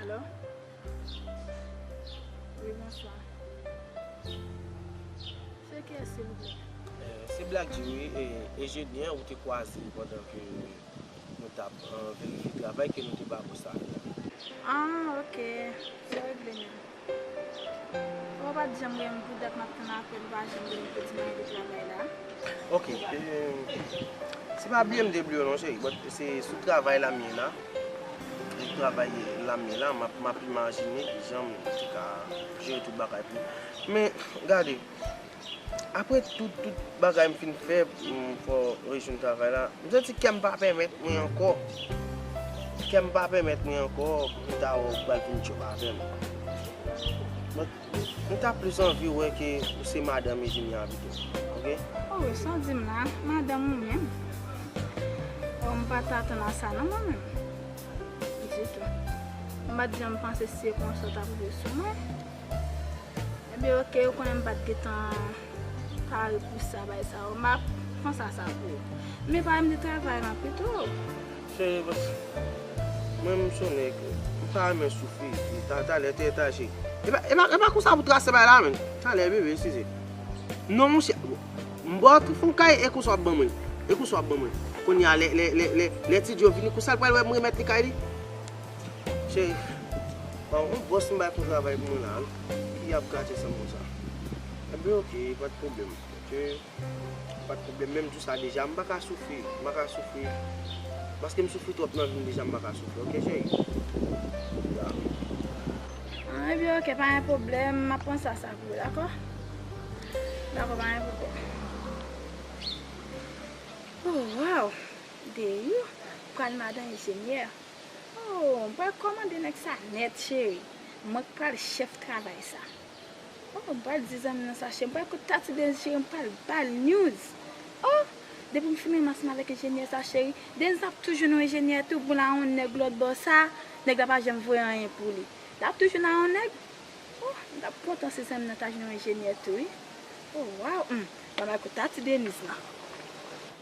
Alo? Wi, bonswa. Se ki yès silvouplè? Se Black G wi, enjenyè ou te kwaze pandan ke nou t ap verifye travay ke nou te ba ou sa a. Ah ok, se regle menm. Ou pat janm renmn pou dat map tann aprè nou pa janm renmn peti mayo de travay la. Ok se pa bmw non cheri but se sou travay la m ye la sou travay la m ye la map imajine kijan m te ka jere tout bagay pou men gade. Apre tout tout bagay m fin fè pou m fè rejwenn travay la, m santi kè m pa pèmèt mwen ankò. Kè m pa pèmèt mwen ankò pou m ta wè ou pral vin tchòp avè m. Donk, m ta plis anvi wè ke ou se madanm Ejeni an pito. Ok? Oh, sa w di m la? Madanm ou menm? Oh, m pa t atann a sa non mwen menm. Ditou. M pa t janm panse se konsa w t ap veye sou mwen. Ebyen ok ou konnen m pat gentan pare pou sa bay sa yo map panse a sa pou ou. Men pa renmen travay lan pito. Cheri paske mwen m sonnen ke m pa renmen soufri epi talè te ta cheri. Epa konsa pou trase bay la menm. Talè bebe eskize. Non monchè m baw tout fon kay e konsa wap ban mwen l. E konsa wap ban mwen l. Kounya lè ti Joe vini konsa l pral wè m remèt li kay li. Cheri, pa w wont bòs m bay pou travay pou mwen la an? Ki ap gate san m konsa? Enben ok, pa t pwoblèm. Ok, pa t pwoblèm. Menm jou sa deja, m pa ka soufri. M pa ka soufri. Paske m soufri twòp nan vi m deja, m pa ka soufri. Ok cheri? Ya. Enben ok, pa gen pwoblèm. M ap pran sa sa pou ou, dakò? Dakò, pa gen pwoblèm. O, waw! Deyou pral madan enjenyè. Ooh m pral kòmande nèg sa nèt cheri mwen k pral chèf travay sa ooh m pral di zanmi nan sa cheri m pral kot tati Denz cheri m pral bal news ooh depi m fin ranmase m avèk enjenyè sa cheri Denz lap tou jwenn yon enjenyè tou pou l a yon nèg lòtbò sa nèg la pa janm voye anyen pou li lap tou jwenn a yon nèg ooh m tap kontan si zanmi nan ta jwenn yon enjenyè tou wi ooh waw humm m pral al kot tati Denz nan.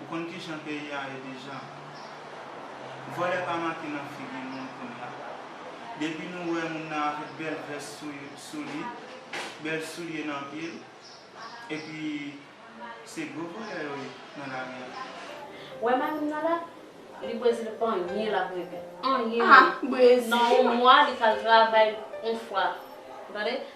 Ou konn kijan peyi a ye deja. Vòlè pa make nan figi moun kounya. Depi nou wè moun nan avèk bèl vès sou li, bèl soulye nan pye l, epi se gwo vòlè yo ye nan lari a. Wè marim nan la? Li brezil pa anyen lap regle. Anyen. Nan yon mwa li pral travay yon fwa. Ou tande?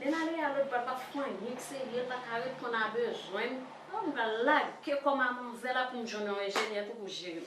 Lel ale a lod bal pap fon anyen k serye l paka ret konn a bezwen oh m pral lag ke kò mamonzèl a poum jwenn yon enjenyè tou pou jere m.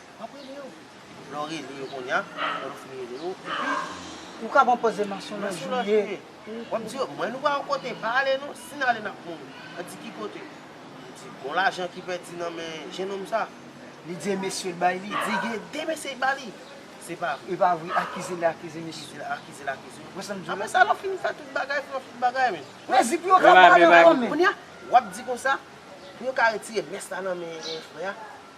Enprime yo. Lè w rele yo kounya, lè w fin rele yo, epi. Ou ka ban pòs de manchon nan jye. W ap di yo, mwen nou pa yon kote, pa ale non, si n ale n ap mouri. Yo di ki kote? Yo di gon lajan ki pèdi nan men jennonm sa. Li di e mesye l bay li? Li di gen de mesye ki ba li. Se pa vre. E pa vre, akize l akize mesye l. Akize l akize yo. Wè sa m di w la? Apre sa lè w fin fè tout bagay, fin wè tout bagay men. Men zi pou yo ka pran nan kò men. Kounya, w ap di konsa, pou yo ka retire mès la nan men frè a.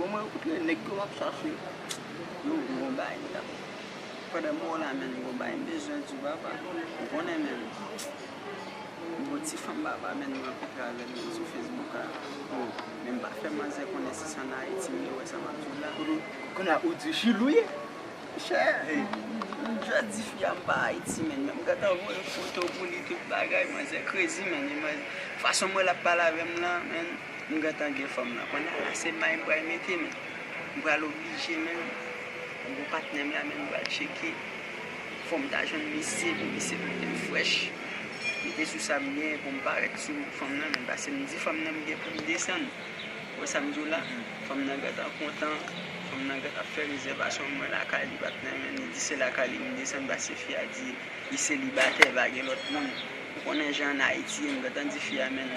Bon mwen koute nèg yo map chache yo gon bagay yo tap pandan mwen la menm gon bagay m bezwen di w papa ou konnen menm gon ti fanm papa menm mwen rankontre avèl menm sou fesbouk la menm pa fè manzè konnen si se an ayiti m ye wè sa map di w la kounye a ou di chili w ye chè m jwe di fi a m pa ayiti menm m gentan voye foto pou li tout bagay manzè krezi menm fason m wè lap pale avèm lan menm. M gentan gen fanm nan konnya se may m pral mete men m pral oblije menm m gon patnè m la menm m pral tcheke fòm ta jwenn misye pou misye pote m frèch mete sou sa m gen pou m parèt sou fanm nan menm pase m di fanm nan m gen pou m desann ou wè sa m di w la fanm nan gentan kontan fanm nan gentan ap fè rezèvasyon mwen lakay li pat nan menm li di se lakay li m desann pase fi a di li selibatè pa gen lòt moun ou konnen jan Ayiti ye m gentan di fi a men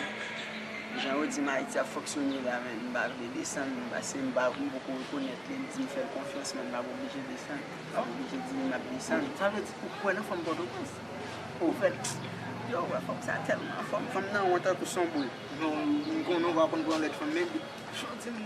Jan yo dim ayiti ap fonksyone la men m pa vle desann non paske m pa m poko rekonèt li m di m fèl konfyans men m pap oblije desann m pap oblije di li map desann. Sa vle di ou kwè nan fanm pòtoprens? Ou vle yo wè fanm sa tèlman anfòm fanm nan won tankou son boul m konnen ou pa konn pran lèt fanm men jodi m.